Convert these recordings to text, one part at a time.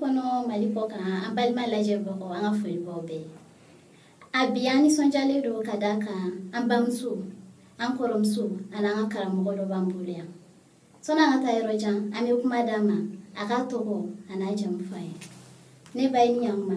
kɔnɔ mali kɔkan an balima lajɛbagaw an ka foli b'aw bɛɛ a bi an nisɔndiyalen don ka d'a kan an bamuso an kɔrɔmuso ani an ka karamɔgɔ dɔ b'an bolo yan sani an ka taa yɔrɔ jan an bɛ kuma d'a ma a k'a tɔgɔ an'a jamu fɔ an ye ne ba ye ni ɲakuma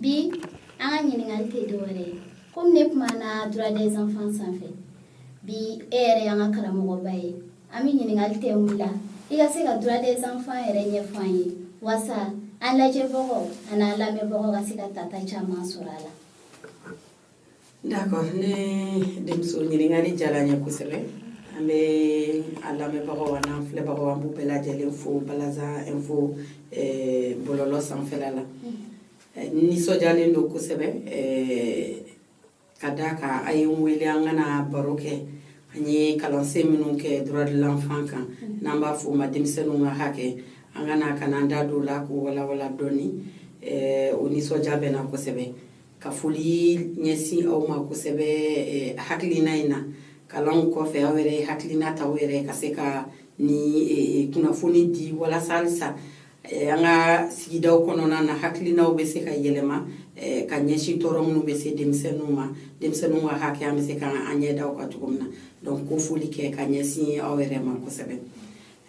bi an ka ɲininkali tɛ dɔwɛrɛ ye komi ne kumana droit des enfants sanfɛ bi e yɛrɛ y'an ka karamɔgɔba ye an bɛ ɲininkali tɛ mun la i ka se ka droit des enfants yɛrɛ ɲɛfɔ an ye walasa an lajɛbagaw an'an lamɛnbagaw ka se ka tata caman sɔrɔ a la D'accord ne denmuso ɲininkali diyara n ye kosɛbɛ an b'an lamɛnbagaw an'an filɛbagaw an b'u bɛɛ lajɛlen fo balaza info eh, bɔlɔlɔ sanfɛla la eh, nisɔndiyalen don kosɛbɛ eh, ka d'a kan a ye n wele an ka na baro kɛ an ye kalansen minnu kɛ droit de l'enfant kan n'an b'a fɔ o ma denmisɛnninw ka hakɛ an ka na ka n'an da don o la k'o walawala dɔɔni o nisɔndiya bɛ n na kosɛbɛ ka foli ɲɛsin aw ma kosɛbɛ eh, hakilina in na kalanw kɔfɛ aw yɛrɛ ye hakilina ta aw yɛrɛ ka se ka nin eh, kunnafoni di walasa halisa eh, an ka sigidaw kɔnɔna na hakilinaw bɛ se ka yɛlɛma ka ɲɛsin tɔɔrɔ minnu bɛ se denmisɛnninw ma denmisɛnninw ka hakɛ an bɛ se ka an ɲɛ da o kan cogo min na donc k'o foli kɛ ka ɲɛsin aw yɛrɛ ma kosɛbɛ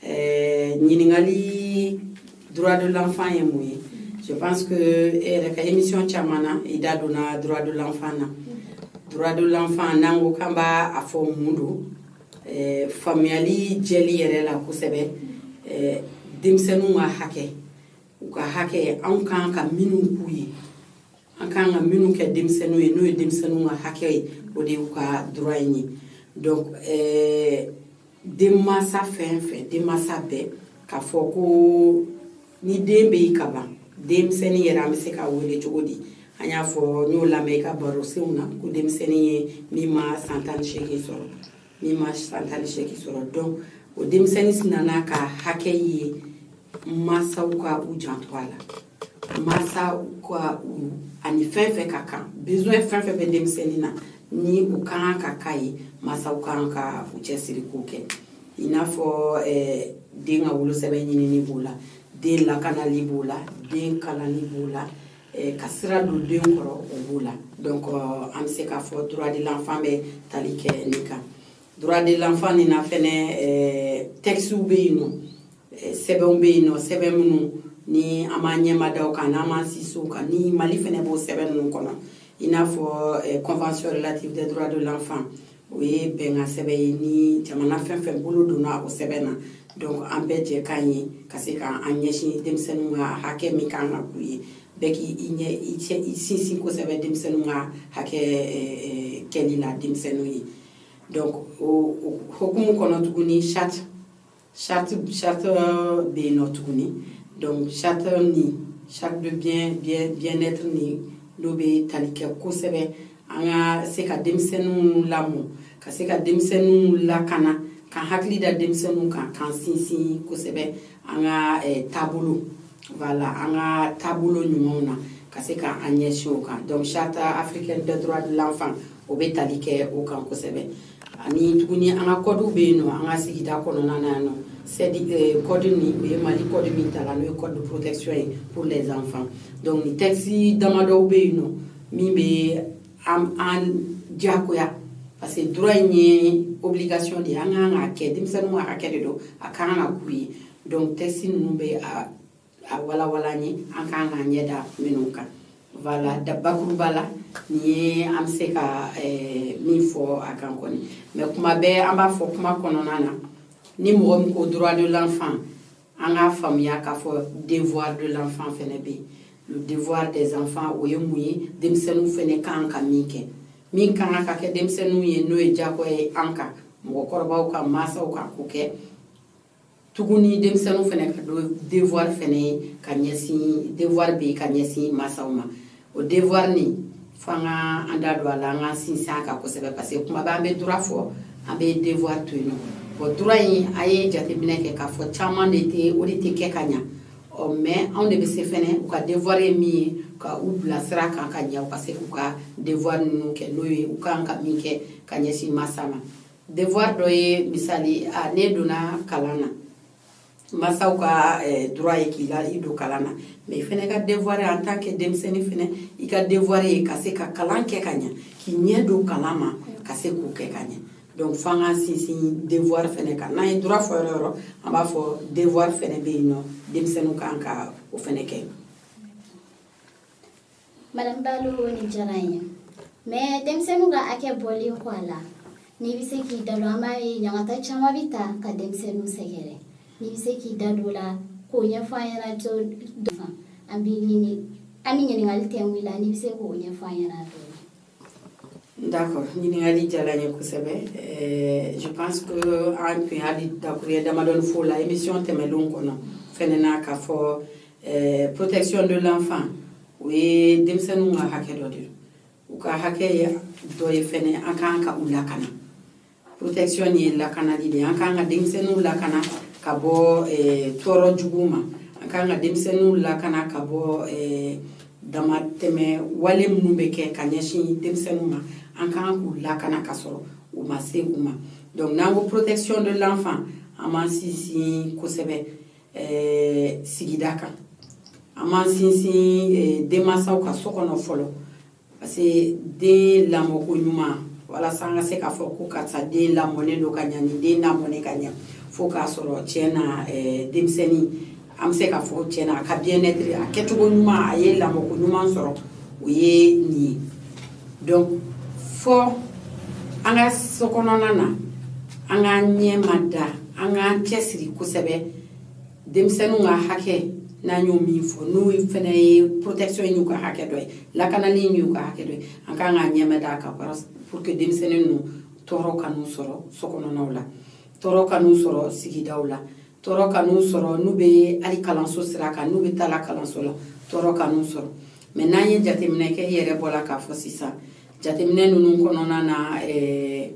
eh, ɲininkali droit de l'enfant ye mun ye je pense que e eh, yɛrɛ ka émission caman na i da donna droit de l'enfant na droit de l'enfant n'an ko k'an b'a fɔ mun don eh, faamuyali jɛlen yɛrɛ la kosɛbɛ eh, denmisɛnninw ka hakɛ u ka hakɛ anw kan ka minnu k'u ye an kan ka minnu kɛ denmisɛnninw ye n'o ye denmisɛnninw ka hakɛ ye o de y'u ka droit in ye donc eh, denmansa fɛn fɛn denmansa bɛɛ k'a fɔ ko ni den bɛ yen ka ban denmisɛnnin yɛrɛ an bɛ se k'a wele cogo di an y'a fɔ n y'o lamɛn i ka barosenw na ko denmisɛnnin ye min ma san tan ni seegin sɔrɔ min ma san tan ni seegin sɔrɔ donc o denmisɛnnin sinana ka hakɛ ye mansaw ka u janto a la mansaw ka u ani fɛn fɛn ka kan besoin fɛn fɛn bɛ denmisɛnnin na ni u ka kan ka k'a ye mansaw ka kan ka u cɛsiri k'o kɛ i n'a fɔ eh, den ka wolosɛbɛn ɲinini b'o la den lakanali b'o la den kalanni b'o la eh, ka sira don den kɔrɔ o b'o la donc euh, an bɛ se k'a fɔ droit de l'enfant bɛ tali kɛ nin kan droit de l'enfant nin na fɛnɛ eh, textew bɛ yen nɔ eh, sɛbɛnw bɛ yen nɔ sɛbɛn minnu ni an b'an ɲɛma da o kan n'an b'an sinsin o kan ni mali fɛnɛ b'o sɛbɛn ninnu kɔnɔ i n'a fɔ convention relative des droits de l'enfant o ye bɛnkan sɛbɛn ye ni jamana fɛn fɛn bolo donna o sɛbɛn na donc an bɛɛ jɛkan ye ka se ka an ɲɛsin denmisɛnninw ka hakɛ min kan ka k'u ye bɛɛ k'i i ɲɛ i cɛ i sinsin kosɛbɛ denmisɛnninw ka hakɛ kɛli la denmisɛnninw ye donc o hokumu kɔnɔ tuguni charte charte charte bɛ yen nɔ tuguni donc charte ni charte de bien bien bien être ni n'o bɛ tali kɛ kosɛbɛ an ka se ka denmisɛnninw lamɔ ka se ka denmisɛnninw lakana k'an hakili da denmisɛnninw kan k'an sinsin kosɛbɛ an ka eh, taabolo voilà an ka taabolo ɲumanw na ka se ka an ɲɛsin o kan donc charte africaine des droits de l'enfant o bɛ tali kɛ o kan kosɛbɛ ani tuguni an ka kɔdiw bɛ yen nɔ an ka sigida kɔnɔna na yan nɔ c'est-à-dire code ni o ye Mali code min tala n'o ye code de protection ye pour les enfants donc ni texte damadɔw bɛ yen nɔ min bɛ an diyagoya parce que droit in ye obligation de ye an ka kan k'a kɛ denmisɛnninw ka hakɛ de don a ka kan ka k'u ye donc texte ninnu bɛ a a walawala an ye an k'an k'an ɲɛ da minnu kan wala da bakuruba la nin ye an bɛ se ka eh, min fɔ a kan kɔni mais kuma bɛɛ an b'a fɔ kuma kɔnɔna na ni mɔgɔ min ko droit de l'enfant an k'a faamuya k'a fɔ devoir de l'enfant fɛnɛ bɛ yen le devoir des enfants o ye mun ye denmisɛnninw fɛnɛ kan ka min kɛ min kan ka kɛ denmisɛnninw ye n'o ye diyagoya ye an kan mɔgɔkɔrɔbaw ka mansaw ka k'o kɛ tuguni denmisɛnninw fɛnɛ k'a dɔn devoir fɛnɛ ye ka ɲɛsin devoir bɛ yen ka ɲɛsin mansaw ma o devoir nin fo an ka an da don a la an ka sinsin a kan kosɛbɛ parce que kuma bɛɛ an bɛ droit fɔ an bɛ devoir to yen nɔ o droit in an ye jateminɛ kɛ k'a fɔ caman de tɛ o de tɛ kɛ ka ɲa ɔ mais anw de bɛ se fɛnɛ u ka devoir ye min ye ka u bila sira kan ka ɲɛ u ka se k'u ka devoir ninnu kɛ n'o ye u kan ka min kɛ ka ɲɛsin masa ma devoir dɔ ye misali a ne donna kalan na masaw ka eh, droit ye k'i la i don kalan na mais i fɛnɛ ka devoir en tant que denmisɛnnin fɛnɛ i ka devoir ye ka se ka kalan kɛ ka ɲa k'i ɲɛ don kalan ma ka se k'o kɛ ka ɲa donc fo an ka sinsin devoir fɛnɛ kan n'an ye droit fɔ yɔrɔ yɔrɔ an b'a fɔ devoir fɛnɛ bɛ yen nɔ denmisɛnninw kan ka o fɛnɛ kɛ Madame Balo nin diyara n ye mais denmisɛnninw ka hakɛ bɔlen kɔ a la n'i bɛ se k'i da don an b'a ye ɲagata caman bɛ ta ka denmisɛnninw sɛgɛrɛ n'i bɛ se k'i da don o la k'o ɲɛfɔ an ɲɛna dɔɔni an b'i ɲini an bɛ ɲininkali tɛ wuli la n'i bɛ se k'o ɲɛfɔ an ɲɛna dɔɔni D'accord ɲininkali diyara n ye kosɛbɛ ɛɛ je pense que an tun y'a dakuruɲɛ damadɔni f'o la émission tɛmɛnenw kɔnɔ fɛnɛ na k'a fɔ ɛɛ protection de l'enfant o ye denmisɛnninw ka hakɛ dɔ de ye u ka hakɛ ye dɔ ye fɛnɛ an ka kan ka u lakana protection ye lakanali de ye an k'an ka denmisɛnninw lakana ka bɔ eh, tɔɔrɔ juguw ma an k'an ka denmisɛnninw lakana ka bɔ eh, damatɛmɛ wale minnu bɛ kɛ ka ɲɛsin denmisɛnninw ma an kan k'u lakana ka sɔrɔ u ma se u ma donc n'an ko protection de l'enfant an b'an sinsin kosɛbɛ eh, sigida kan an b'an sinsin denmansaw ka so kɔnɔ fɔlɔ parce que den lamɔko ɲuman walasa an ka se k'a fɔ ko karisa den lamɔnen don ka ɲa ni den lamɔnen ka ɲa fo k'a sɔrɔ tiɲɛ na eh, denmisɛnnin an bɛ se k'a fɔ tiɲɛ na a ka bien-être a kɛcogo ɲuman a ye lamɔko ɲuman sɔrɔ o ye nin ye donc fo an ka so kɔnɔna na an k'an ɲɛmada an k'an cɛsiri kosɛbɛ denmisɛnninw ka hakɛ n'an ye min fɔ n'o fana ye protection y'u ka hakɛ dɔ ye lakanali y'u ka hakɛ dɔ ye an kan k'an ɲɛmad'a kan pour que denmisɛnnin ninnu tɔɔrɔ kan'u sɔrɔ so kɔnɔnaw la tɔɔrɔ kan'u sɔrɔ sigidaw la tɔɔrɔ kan'u sɔrɔ n'u bɛ hali kalanso sira kan n'u bɛ taa la kalanso la tɔɔrɔ kan'u sɔrɔ mais n'an ye jateminɛ kɛ i yɛrɛ bɔra k'a fɔ sisan jateminɛ ninnu kɔnɔna na ɛɛ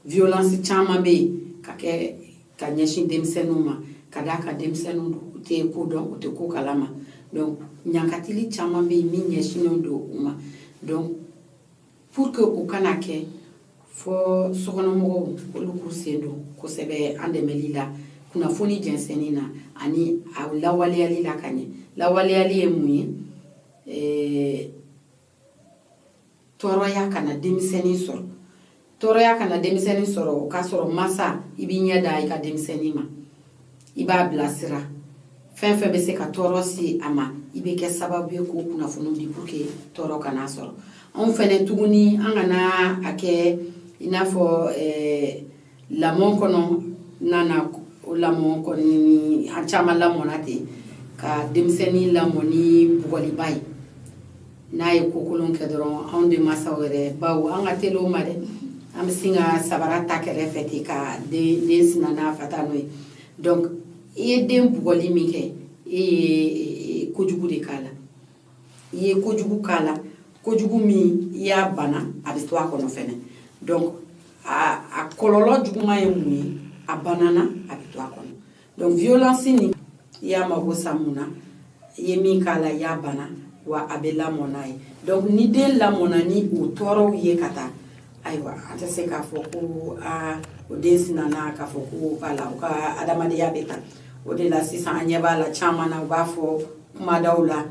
violence caman bɛ yen ka kɛ ka ɲɛsin denmisɛnninw ma ka d'a kan denmisɛnninw don u tɛ ko dɔn u tɛ ko kalama donc ɲankatali caman bɛ yen min ɲɛsinnen don u ma donc pour que u kana kɛ fo sokɔnɔmɔgɔw olu k'u sen don kosɛbɛ an dɛmɛli la kunnafoni jɛnsɛnni na ani a lawaleyali la ka ɲɛ lawaleyali ye mun ye tɔɔrɔya kana denmisɛnnin sɔrɔ tɔɔrɔya kana denmisɛnnin sɔrɔ o k'a sɔrɔ masa i b'i ɲɛ da i ka denmisɛnnin ma i b'a bilasira fɛn fɛn bɛ se ka tɔɔrɔ se a ma i bɛ kɛ sababu ye k'o kunnafoni di pour que tɔɔrɔ kan'a sɔrɔ anw fɛnɛ tuguni an kana a kɛ i n'a fɔ ɛɛ lamɔ kɔnɔna na o lamɔ kɔni an caman lamɔna ten ka denmisɛnnin lamɔ ni bugɔliba ye n'a ye ko kolon kɛ dɔrɔn anw denmasaw yɛrɛ bawo an ka teli o ma dɛ an bɛ sin ka sabara ta kɛrɛfɛ ten ka den den sina n'a fata n'o ye donc i ye den bugɔli min kɛ e ye kojugu de k'a la i ye kojugu k'a la kojugu min i y'a bana a bɛ to a kɔnɔ fɛnɛ donc a kɔlɔlɔ juguman ye mun ye a banana a bɛ to a kɔnɔ donc violence nin i y'a mago sa mun na i ye min k'a la i y'a bana wa a bɛ lamɔ n'a ye donc ni den lamɔna ni o tɔɔrɔw ye ka taa ayiwa an tɛ se k'a fɔ ko aa o den sinana k'a fɔ ko wala u ka adamadenya bɛ taa o de la sisan an ɲɛ b'a la caman na u b'a fɔ kuma daw la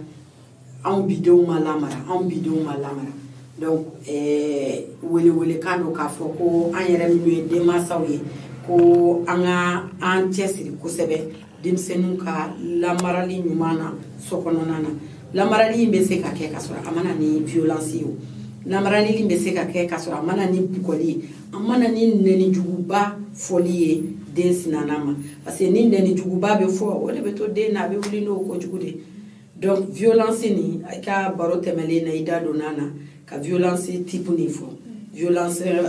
anw bidenw ma lamara anw bidenw ma lamara donc eh, welewelekan don k'a fɔ ko an yɛrɛ minnu ye denmansaw ye ko an ka an cɛsiri kosɛbɛ denmisɛnninw ka lamarali ɲuman na so kɔnɔna na lamarali in bɛ se ka kɛ ka sɔrɔ a ma na ni violence ye o lamarali in bɛ se ka kɛ ka sɔrɔ a ma na ni bugɔli ye a ma na ni nɛnijuguba fɔli ye den sinanan ma parce que ni nɛnijuguba bɛ fɔ o de bɛ to den na a bɛ wuli n'o ko jugu de donc violence nin i ka baro tɛmɛlen na i da donna ka violence type nin fɔ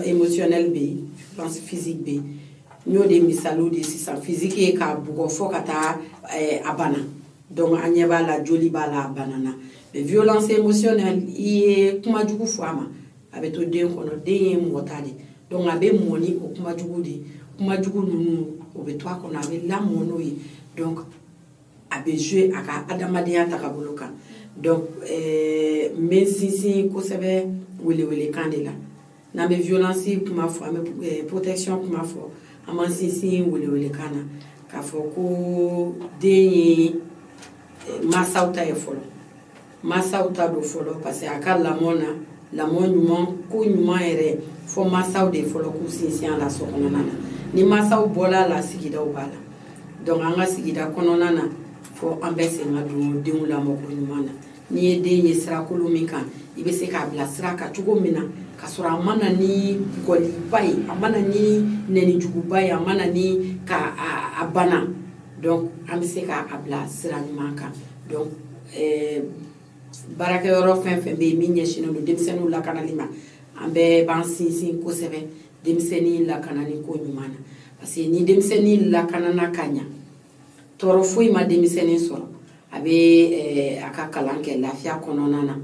émotionnelle bɛ yen physi physique bɛ yen n y'o de misaliw di sisan physique ye k'a bugɔ fo ka taa eh, a bana donc an ɲɛ b'a la joli b'a la a banana mais violence émotionnelle i ye kuma jugu fɔ a ma a bɛ to den kɔnɔ den ye mɔgɔ ta de donc a bɛ mɔ ni o kuma jugu de kuma jugu ninnu o bɛ to a kɔnɔ a bɛ lamɔ n'o ye donc a bɛ jouer a ka adamadenya tagabolo kan donc eh, n bɛ n sinsin kosɛbɛ welewelekan de la n'an bɛ violence kuma fɔ an bɛ eh, protection kuma fɔ an b'an sinsin welewelekan na k'a fɔ ko den ye eh, mansaw ta ye fɔlɔ masaw ta don fɔlɔ parce que a ka lamɔ na lamɔ ɲuman ko ɲuman yɛrɛ fo masaw de fɔlɔ k'u sinsin a la so kɔnɔna na ni masaw bɔla a la sigidaw b'a la donc an ka sigida kɔnɔna na fo an bɛɛ sen ka don denw lamɔ ko ɲuman na n'i ye den ye sirakolo min kan i bɛ se k'a bila sira kan cogo min na ka sɔrɔ a ma na ni bugɔliba ye a ma na ni nɛnijuguba ye a ma na ni ka a bana donc an bɛ se k'a bila sira ɲuman kan donc ɛɛ baarakɛyɔrɔ fɛn fɛn bɛ yen min ɲɛsinnen don denmisɛnninw lakanali ma an bɛɛ b'an sinsin kosɛbɛ denmisɛnnin lakanani ko ɲuman na parce que ni denmisɛnnin lakanana ka ɲa tɔɔrɔ foyi ma denmisɛnnin sɔrɔ a bɛ a ka kalan kɛ lafiya kɔnɔna na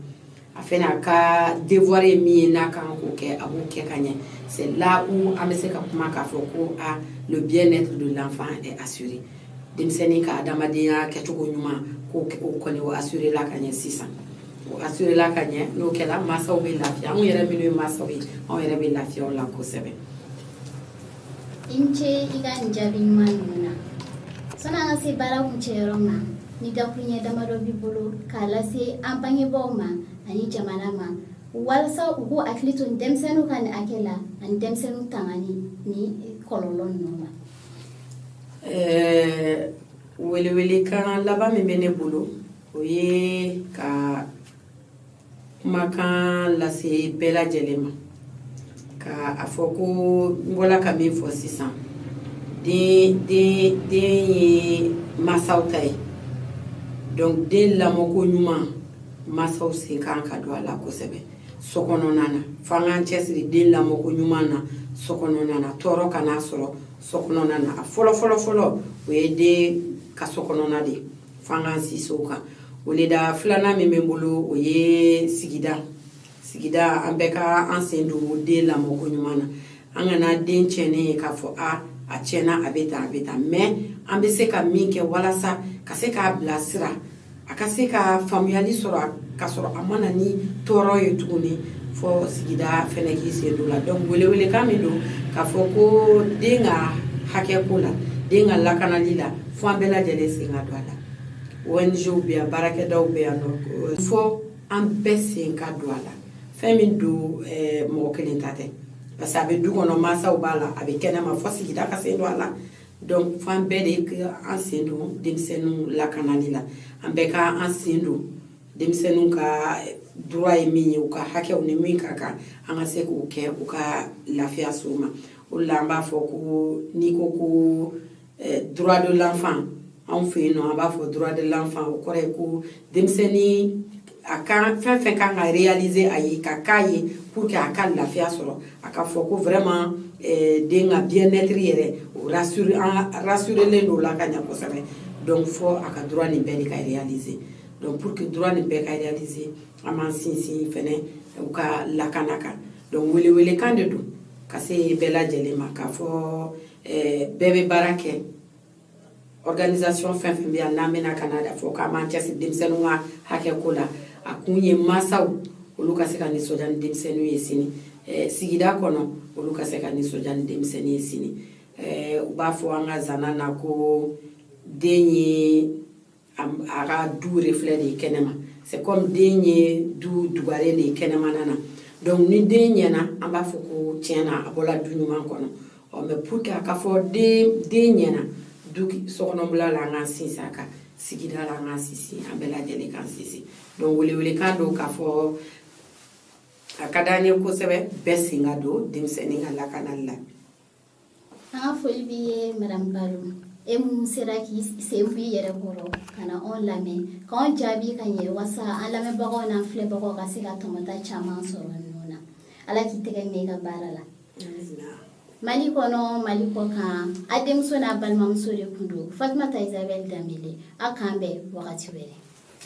a fana a ka devoir ye min ye n'a kan k'o kɛ a b'o kɛ ka ɲɛ c'est là où an bɛ se ka kuma k'a fɔ ko a le bien-être de l'enfant est assuré denmisɛnnin ka adamadenya kɛcogo ɲuman ko o kɔni o assuréla ka ɲɛ sisan o assuréla ka ɲɛ n'o kɛra mansaw bɛ lafiya anw yɛrɛ minnu ye mansaw ye anw yɛrɛ bɛ lafiya la kosɛbɛ i ni ce i ka nin jaabi ɲuman ninnu na sani an ka se baara kuncɛyɔrɔ ma ni dakuruɲɛ damadɔ b'i bolo k'a lase an bangebaaw ma ani jamana ma walasa u k'u hakili to denmisɛnninw ka nin hakɛ la ani denmisɛnninw tangani ni kɔlɔlɔ ninnu ma welewelekan laban min bɛ ne bolo o ye ka kumakan lase bɛɛ lajɛlen ma ka a fɔ ko n bɔla ka min fɔ sisan den den den ye masaw ta ye donc den lamɔko ɲuman masaw sen kan ka don a la kosɛbɛ so kɔnɔna na fo an k'an cɛsiri den lamɔko ɲuman na so kɔnɔna na tɔɔrɔ kana sɔrɔ so kɔnɔna na a fɔlɔ fɔlɔ fɔlɔ o ye den ka so kɔnɔna de ye fo an k'an sinsin o kan o le da filanan min bɛ n bolo o ye sigida sigida an bɛɛ ka an sen don den lamɔko ɲuman na an kana den tiɲɛnen ye k'a fɔ a a tiɲɛna a bɛ tan a bɛ tan mais an bɛ se ka min kɛ walasa ka se k'a bilasira a ka se ka faamuyali sɔrɔ ka sɔrɔ a ma na ni tɔɔrɔ ye tuguni fo sigida fɛnɛ k'i sen don a la donc welewelekan min don k'a fɔ ko den ka hakɛ ko la den ka lakanali la fo an bɛɛ lajɛlen sen ka don a la ONGw bɛ yan baarakɛdaw bɛ yan nɔ fo an bɛɛ sen ka don a la fɛn min don eh, mɔgɔ kelen ta tɛ parce que a bɛ du kɔnɔ mansaw b'a la a bɛ kɛnɛma fo sigida ka sen don a la donc fo an bɛɛ de ka an sen don denmisɛnninw lakanali la an bɛɛ ka an sen don denmisɛnninw ka droit ye min ye u ka hakɛw ni min ka kan an ka se k'o kɛ u ka lafiya s'o ma o de la an b'a fɔ ko n'i ko ko droit de l'enfant anw fɛ yen nɔ an b'a fɔ droit de l'enfant o kɔrɔ ye ko denmisɛnnin a kan fɛn fɛn kan ka réaliser a ye ka k'a ye pour que a ka lafiya sɔrɔ a ka fɔ ko vraiment den ka bien-être yɛrɛ o rassurer an rassurelen don o la ka ɲɛ kosɛbɛ donc fo a ka droit nin bɛɛ de ka réaliser donc pour que droit nin bɛɛ ka réaliser an b'an sinsin fɛnɛ u ka lakana kan donc welewelekan de don ka se bɛɛ lajɛlen ma k'a fɔ eh, bɛɛ bɛ baara kɛ organisation fɛn fɛn bɛ yan n'an bɛna ka na da fɔ k'an b'an cɛsiri denmisɛnninw ka hakɛ ko la a kun ye mansaw olu ka se ka nisɔndiya ni denmisɛnninw ye sini eh, sigida kɔnɔ olu ka se ka nisɔndiya ni denmisɛnnin ye sini eh, u b'a fɔ an ka zana na ko den ye a ka du reflet de ye kɛnɛma c'est comme den ye du dugaren de ye kɛnɛmana na donc ni den ɲɛna an b'a fɔ ko tiɲɛ na a bɔla du ɲuman kɔnɔ ɔ mais pour que a ka fɔ den den ɲɛna du sokɔnɔbila la an k'an sinsin a kan sigida la an k'an sinsin an bɛɛ lajɛlen k'an sinsin donc welewelekan don k'a fɔ a ka d'an ye kosɛbɛ bɛɛ sen ka don denmisɛnnin ka lakanali la an ka foli b'i ye madamu balo e min sera k'i sen b'i yɛrɛ kɔrɔ ka na anw lamɛn k'anw jaabi ka ɲɛ wasa an lamɛnbagaw n'an filɛbagaw ka se ka tɔmɔta caman sɔrɔ ninnu na ala k'i tɛgɛ mɛɛn i ka baara la mali kɔnɔ mali kɔ kan a denmuso n'a balimamuso de tun don fatumata isabɛli danbele a k'an bɛn wagati wɛrɛ